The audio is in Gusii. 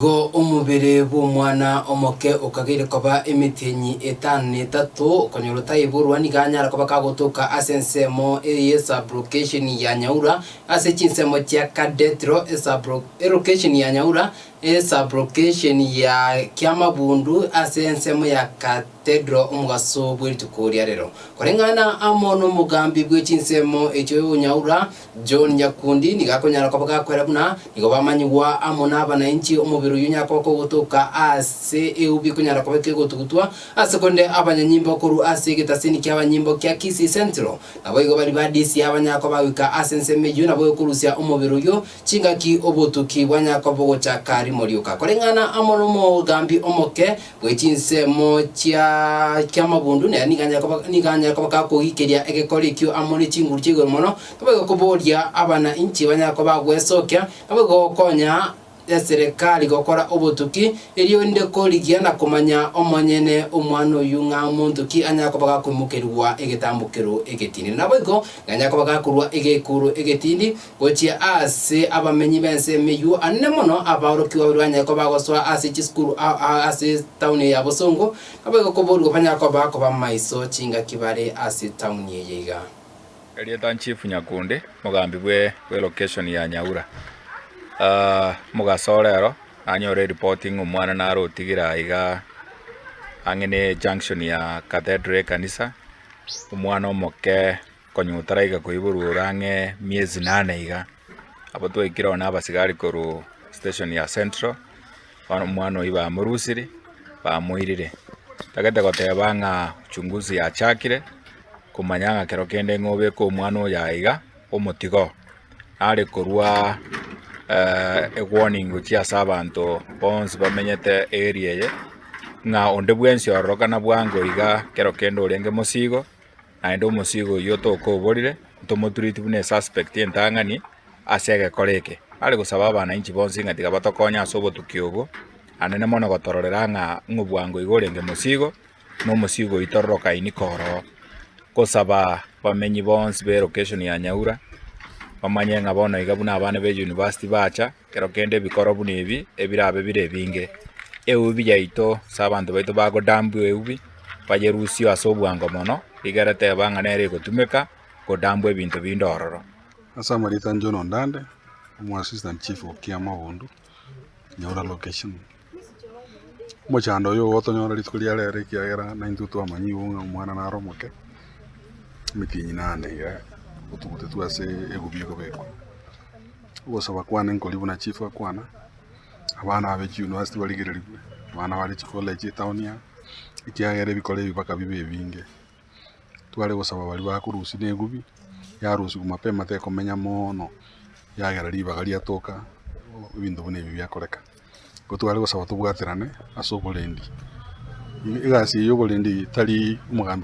Igo omobere bw'omwana omoke okageire koba emetienyi etano na etato, okonyora otaiborwa nigo anyara koba kagotoka ase ensemo eye y'esabrokesheni ya Nyaura ase chinsemo chia Kadethro, esabrokesheni ya Nyaura, esabrokesheni ya Kiamabundu ase ensemo ya Katedro omogaso bwe rituko ria rero. Koreng'ana amo nomogambi bwe chinsemo echio Nyaura, John Nyakundi nigo akonyara koba gakwera buna nigo bamanyigwa amo nabanainchi omobere oyio nyakoka ogotoka aase eu bikonyara koba ekegotugutwa ase korende abanyanyimbo korwa ase egetasini kiabanyimbo kia Kisii Central naboigo bari badisi aba nyako bagoika ase ensemo eyio nabo ekorusia omobere oyio chingaki obotuki bwanyakoba ogochaka rimo rioka koreng'ana amo nomogambi omoke Bwe chinsemo chia chi'amabundu, nere nigo anyare koba, nigo anyare koba gakogikeria egekori ekio amo ne chinguru chia igoro mono, nabo egokoboria abana inche banyare koba bagwesokia, nabo egokonya eserekari gokora obotuki, erio inde korigia na komanya omonyene omwana oyio ng'a monto ki anyare koba gakoimokerigwa egetambokero egetindi. Naboigo nigo anyare koba gakorua egeikuru egetindi, Gochia aase abamenyi b'ense emeyuo ande mono abaorokigwa baria banyare koba bagosoa ase chisukuru ase etauni eye ya bosongo, nabo egokoboorigwa banyare koba kobamaiso chingaki bare ase etauni eye iga. Erieta Chief Nyakundi, mogambi bwe location ya Nyaura. Mogaso orero nanyore eripoti ng'a omwana nare otigire aiga ang'e ne junction ya Cathedral ekanisa, omwana omoke Konya otaraika koiborwa ore ang'e miezi inane iga, abwo twaikire oo nabasigari korwa station ya central, bono omwana oyio bamorusire, bamoirire, tagete goteba ng'a uchunguzi yachakire, komanya ng'a kero kende ng'a obeke omwana oyo aiga iga, omotiga oo, nare korwa ewarning gochia ase abanto bonsi bamenyete area eye, ng'a onde bwensi ororokana bwango iga kero kende orenge mosigo, Naende omosiiga oyio tokoborire ntomotureti buna esuspect entang'ani ase egekora eke. Are gosaba abanainchi bonsi ng'a tiga batokonye ase obotuki obwo, anene mono gotororera ng'a ng'obwango iga orenge mosiigo, na omosiiga oyio tororokaini koroo. Gosaba bamenyi bonsi be location ya Nyaura, bamanye ng'a bono iga buna abana be university bacha. Kero kende ebikoro buna ebi ebirabe bire ebinge, eubi yaito ase abanto baito bagodambwa eubi, bayerusio ase obwango mono, rigera teba ng'a nere egotumeka godambwa ebinto binde ororo. Ase amarita a John Ondande, omo Assistant Chief o Kiama Bondo, Nyaura Location. Omochando oyo igotonyora rituko ria rero ekiagera naintwe twamanyigwe buna omwana naro omoke, emiti enyia inana na iga otugutetwe ase egubia egobekwa. Ogosaba kwane nkoria buna chief akwana, abana aba echi university barigererigwe, abana bare chikoleji etaoni aa, ekiagera ebikoro ebi mpaka bibe ebinge. tware gosaba baria bakorusia negubi, yarusiwa mapema tekomenya mono, yagera ribaga riatoka ebinto buna ebi biakoreka. Igo tware gosaba tobwaterane ase oborendi, egasi eye y'oborendi tari omogambi.